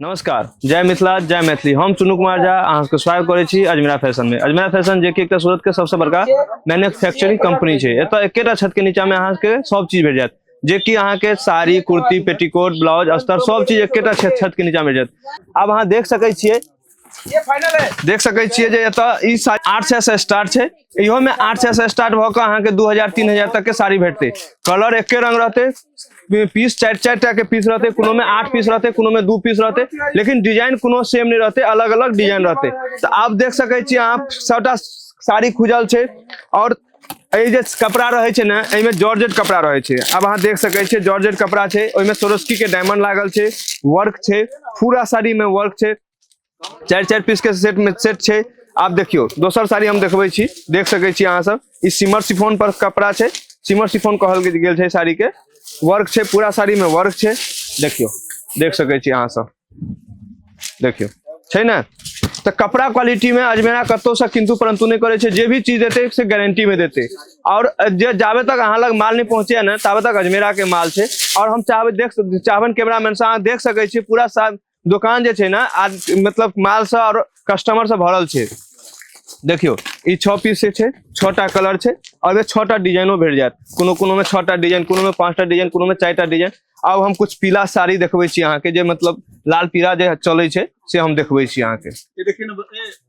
नमस्कार जय मिथिला जय मैथिली हम चुनू कुमार झा अहाँ सबके स्वागत करै छी अजमेरा फैशन में अजमेरा फैशन जे कि एकटा सूरत के सबसे बड़का मैन्युफैक्चरिंग कंपनी छै एतऽ एकेटा छत के नीचा में अहाँ के सब चीज भेट जायत जे कि अहाँ के साड़ी कुर्ती पेटीकोट ब्लाउज अस्तर सब चीज एकेटा छत छत के नीचा में भेट जायत आब अहाँ देख सकै छियै देख सकै छियै जे एतऽ ई साड़ी आठ सए से स्टार्ट छै इहो में आठ सौ से स्टार्ट भऽ कऽ अहाँके दू हजार तीन हजार तक के साड़ी भेटते कलर एके रंग रहते पीस चारि चारि टा के पीस रहते कोनो में आठ पीस रहते कोनो में दू पीस रहते लेकिन डिजाइन कोनो सेम नहीं रहते अलग अलग डिजाइन रहते तो आप देख सके छी अहाँ सबटा साड़ी खुजल छै और एहि जे कपड़ा रहे छै ने एहिमे जॉर्जेट कपड़ा रहे छै अब अहाँ देख सके छियै जॉर्जेट कपड़ा छै ओहिमे सोरोस्की के डायमंड लागल छै वर्क छै पूरा साड़ी में वर्क छै चारि चारि पीस के सेट में सेट छै आप देखियो दोसर साड़ी हम देखबे छी देख सके छी अहाँ सब ई सिमर सिफोन पर कपड़ा छै सिमर सिफोन कहल गेल छै साड़ी के वर्क छै पूरा साड़ी में वर्क छै देखियो देख सके छी अहाँ सब देखियो छै ने तो कपड़ा क्वालिटी में अजमेरा कतो से किंतु परंतु नहीं करे छे जे भी चीज देते से गारंटी में देते और जे जाबे तक अहाँ लग माल नहीं पहुंचे ना ताबे तक अजमेरा के माल छे और हम चाहबे देख चाहबन कैमरा मैन से अहाँ देख सके छी पूरा साथ दोकान जे छै ने आज मतलब मालसँ आओर कस्टमरसँ भरल छै देखियौ ई छओ पीस से छै छओ टा कलर छै आओर छओ टा डिजाइनो भेट जायत कोनो कोनोमे छओ टा डिजाइन कोनोमे पाँच टा डिजाइन कोनोमे चारि टा डिजाइन आब हम कुछ पीला साड़ी देखबै छी अहाँके जे मतलब लाल पीला जे चलै छै से हम देखबै छी अहाँके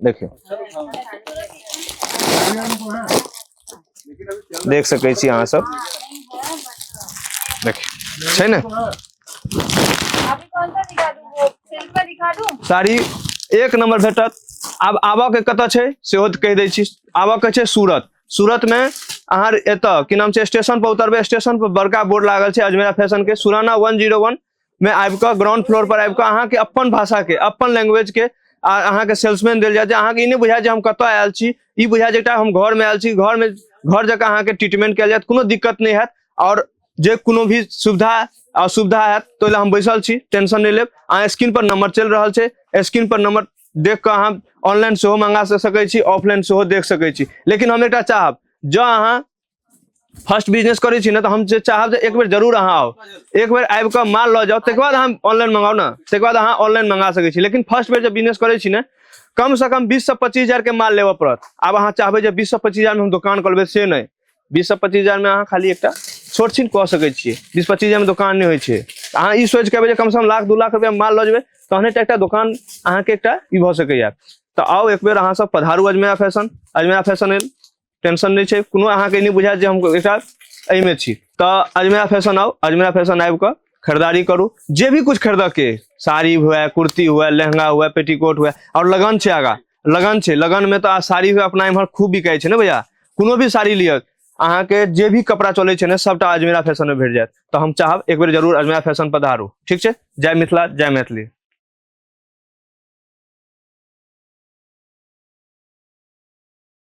देखियौ देख सकै छी अहाँ सब देखियौ छै ने अभी कौन सा दिखा दूँ वो सिल्क का दिखा दूँ साड़ी एक नंबर भेटत आब आबऽ के कतऽ छै सेहो तऽ कहि दै छी आबऽ के छै सूरत सूरत मे अहाँ एतऽ की नाम छै स्टेशन पर उतरबै स्टेशन पर बड़का बोर्ड लागल छै अजमेरा फैशन के सुराना वन जीरो वन में आबि कऽ ग्राउंड फ्लोर पर आबि कऽ अहाँके अपन भाषा के अपन लैंग्वेज के आ अहाँके सेल्समैन देल जाय जे अहाँके ई नहि बुझाय जे हम कतऽ आयल छी ई बुझाय जे एकटा हम घर में आयल छी घर में घर जकाँ अहाँके ट्रीटमेंट कयल जायत कोनो दिक्कत नहि हैत आओर जे कोनो भी सुविधा असुविधा हैत तो हम बैसल छी टेंशन नहि लेब अहाँ स्क्रीन पर नंबर चलि रहल छै स्क्रीन पर नंबर देख कऽ अहाँ ऑनलाइन सेहो मंगा सकैत छी ऑफलाइन सेहो देख सकैत छी लेकिन हम एकटा चाहब जँ अहाँ फर्स्ट बिजनेस करै छी ने तऽ हम जे चाहब जे एक बेर जरूर अहाँ आउ एक बेर आबि कऽ माल लऽ जाउ तकर बाद अहाँ ऑनलाइन मंगाउ ने तकर बाद अहाँ ऑनलाइन मंगा सकै छी लेकिन फर्स्ट बेर जे बिजनेस करै छी ने कम से कम बीस से पच्चीस हजार के माल लेबऽ पड़त आब अहाँ चाहबै जे बीस से पच्चीस हजार में हम दोकान खोलबै से नहि बीस से पच्चीस हजार में अहाँ खाली एकटा छोट छीन कऽ सकै छियै बीस पच्चीस हजार में दोकान नहि होइ छै तऽ अहाँ ई सोचि के अयबै जे कम से कम लाख दू लाख रुपया माल लऽ जेबै तहने टा एकटा दोकान अहाँके एकटा ई भऽ सकैया तऽ आउ एक बेर अहाँ सब पधारू अजमेरा फैशन अजमेरा फैशन एल टेंशन नहीं है कोनो अहाँ के नहीं बुझायत जे हम एकरा एहि में छी तो अजमेरा फैशन आओ अजमेरा फैशन आबि कऽ खरीदारी करू जे भी कुछ खरीदऽ के साड़ी हुए कुर्ती हुए लहंगा हुए पेटीकोट हुए और लगन छै आगा लगन छै लगन में तो आ साड़ी हुए अपना इम्हर खूब बिकाय छै ने भैया कोनो भी साड़ी लिअ अहाँ के जे भी कपड़ा चलै छै ने सबटा अजमेरा फैशन में भेट जायत तो हम चाहब एक बेर जरूर अजमेरा फैशन पधारू ठीक छै जय मिथिला जय मैथिली